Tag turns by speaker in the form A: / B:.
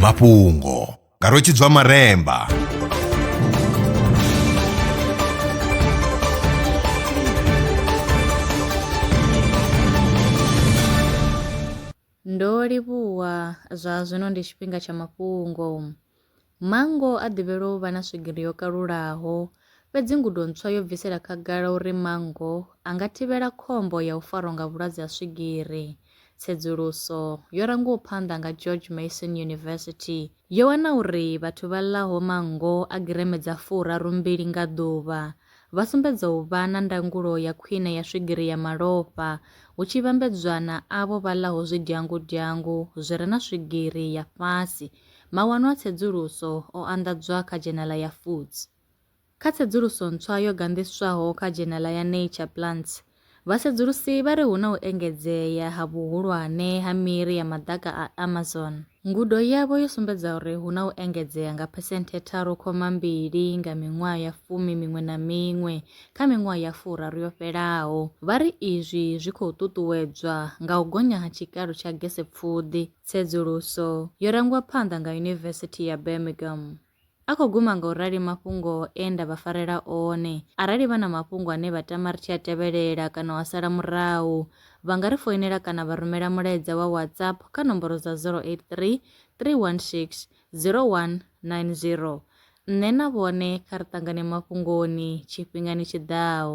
A: mafhungo nga rwetshidzwa maremba
B: ndo livhuwa zwa zwino ndi tshifhinga tsha mafhungo Manngo a ḓivhelwa u vha na swigiri yo kalulaho, fhedzi ngudo ntswa yo bvisela khagala uri manngo a nga thivhela khombo ya u farwa nga vhulwadze ha swigiri. Tsedzuluso yo rangiwaho phanḓa nga George Mason University yo wana uri vhathu vha ḽaho manngo a gireme dza furaru mbili nga ḓuvha vha sumbedza u vha na ndangulo ya khwine ya swigiri ya malofha hu tshi vhambedzwa na avho vha ḽaho zwidyangudyangu zwi re na swigiri ya fhasi Mawanwa a tsedzuluso o anḓadzwa kha dzhenala ya Foods. Kha tsedzuluso ntswa yo ganḓiswaho kha dzhenala ya Nature Plants, vhasedzulusi vha ri hu na u engedzea ha vhuhulwane ha miri ya maḓaka a Amazon. Ngudo yavho yo sumbedza uri hu na u engedzea nga phesenthe tharu khoma mbili nga miṅwaha ya fumi miṅwe na miṅwe kha miṅwaha ya furaru yo fhelaho. Vha ri izwi zwi khou ṱuṱuwedzwa nga u gonya ha tshikalo tsha gesepfuḓi. Tsedzuluso yo rangwa phanḓa nga Yunivesithi ya Birmingham. A khou guma nga u rali mafhungo e nda vha farela one. Arali vha na mafhungo ane vha tama ri tshi a tevhelela kana u a sala murahu, vha nga ri foinela kana vha rumela mulaedza wa WhatsApp kha nomboro dza 083 316 0190. Nṋe na vhone kha ri ṱangane mafhungoni tshifhingani tshi ḓaho.